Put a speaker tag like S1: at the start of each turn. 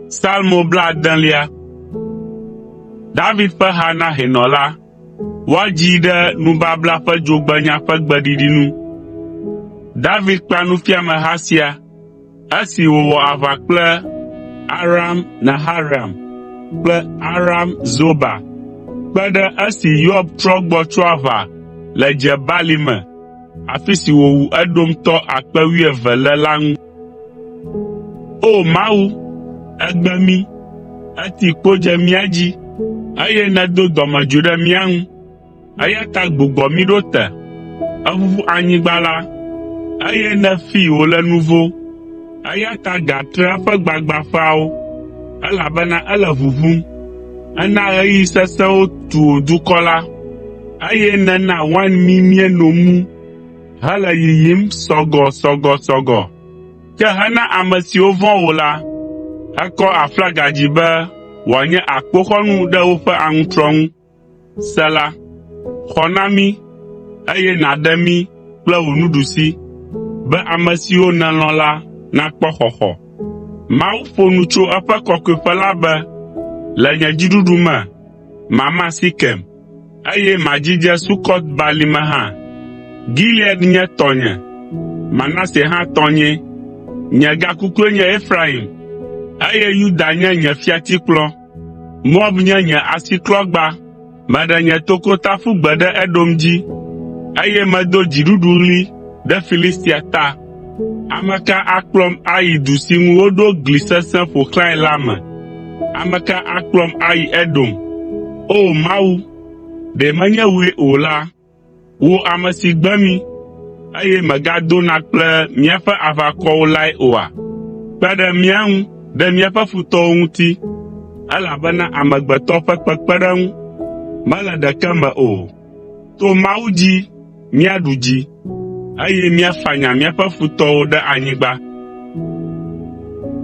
S1: Salmo bladelia. David ƒe ha na hɛnɔ la. Woadzii ɖe nubabla ƒe dzogbenya ƒe gbeɖiɖi nu. David kpea nufiameha sia esi wòwɔ aʋa kple Aram Naharaim kple Aram Zoba kpe ɖe esi Yoab trɔ gbɔ tso aʋa le Dze Balime afi si wòwu Edomtɔ akpe wuieve (12,000) le la ŋu. O Mawu, ègbe mí, èti kpo dze mía dzi, eye nèdo dɔmedzoe ɖe mía ŋu, eya ta gbugbɔ mí ɖo te. Èʋuʋu anyigba la, eye nèfee wòle nuvo. Eya ta gatre eƒe gbagbãƒeawo, elabena ele ʋuʋum. Èna ɣeyiɣi sesẽwo tu wò dukɔ la, eye nèna wain mi míeno mu hele yiyim sɔgɔsɔgɔsɔgɔ. Ke hena ame siwo vɔ̃ wò la, èkɔ aflaga dzi be wòanye akpoxɔnu ɖe woƒe aŋutrɔ ŋu. Sela Xɔ na mí, eye nàɖe mí kple wò nuɖusi, Be ame siwo nèlɔ̃ la nakpɔ xɔxɔ. Mawu ƒo nu tso eƒe kɔkɔeƒe la be, “Le nye dziɖuɖu me, mama Sekem, eye madzidze Sukɔt Balime hã. Gilead nye tɔnye, Manase hã tɔnyee. Nye gakukue nye Efraim, eye Yuda nye nye fiatikplɔ.” Moab nye nye asiklɔgba. Meɖe nye tokota ƒu gbe ɖe Edom dzi, eye medo dziɖuɖuɣli ɖe Filistia ta. Ame ka akplɔm ayi du si ŋu woɖo gli sesẽ ƒo xlãe la me? Ame ka akplɔm ayi Edom? O Mawu, ɖe menye wòe o la, Wò ame si gbe mí, eye mègadona kple míaƒe aʋakɔwo lae oa? Kpe ɖe mía ŋu ɖe míaƒe futɔwo ŋuti, elabena amegbetɔ ƒe kpekpeɖeŋu mele ɖeke me o. To Mawu dzi míaɖu dzi, eye míafanya míaƒe futɔwo ɖe anyigba.”